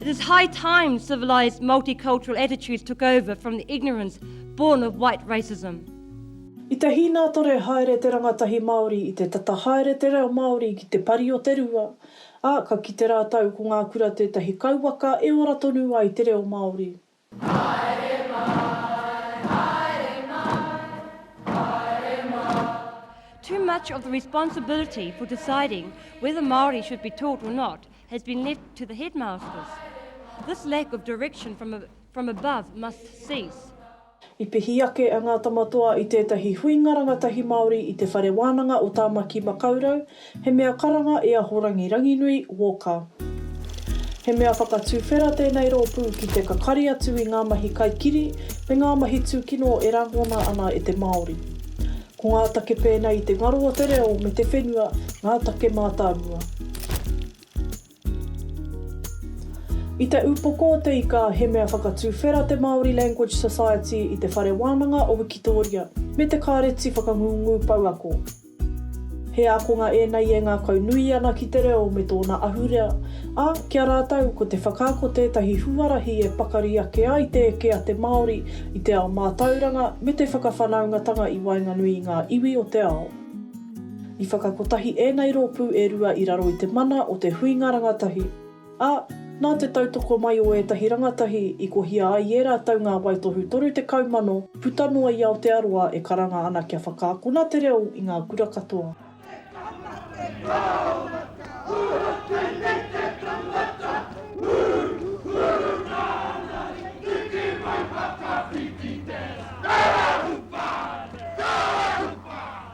It is high time civilised multicultural attitudes took over from the ignorance born of white racism. I te hīnātore haere te rangatahi Māori, i te tata haere te reo Māori ki te pari o te rua, ā, ka kite rātou ko ngā kura tētahi kauwaka e ora tonu ai te reo Māori. Too much of the responsibility for deciding whether Māori should be taught or not has been left to the headmasters. This lack of direction from, a, from above must cease. I pihi ake a Ngā Tamatoa i tētahi huinga rangatahi Māori i Te Whare Wānanga o Tāmaki Makaurau, He mea karanga i a Horangi Ranginui, Walker. He mea whakatuwhera tēnei rōpū ki te kakari atu i ngā mahi kaikiri me ngā mahi tūkino e rangona ana e te Māori. Ko ngā take pēnei i te ngaro o te reo me te whenua ngā take mātāmua. I te upoko o te ika, he mea whakatuwhera te Māori Language Society i Te Whare Wānanga o Wikitōria me te Kāreti Whakangungu Pouako. He ākonga ēnei e ngākau nui ana ki te reo me tōna ahurea, ā, ki a rātou ko te whakaako tētahi huarahi e pakari ake ai te eke a te Māori i te ao mātauranga me te whakawhanaungatanga i waenganui i ngā iwi o te ao. I whakakotahi ēnei rōpū e rua i raro i te mana o te huinga rangatahi, ā, nā te tautoko mai o ētahi rangatahi i kohia ai i ērā tau ngā waitohu 30,000 puta noa i Aotearoa e karanga ana kia whakaakona te reo i ngā kura katoa. He tama te kaumata, hua tēnei te tangata, hūhū nāna i tiki mai whakawhiti tērā, kāhū pā, kāhū pā.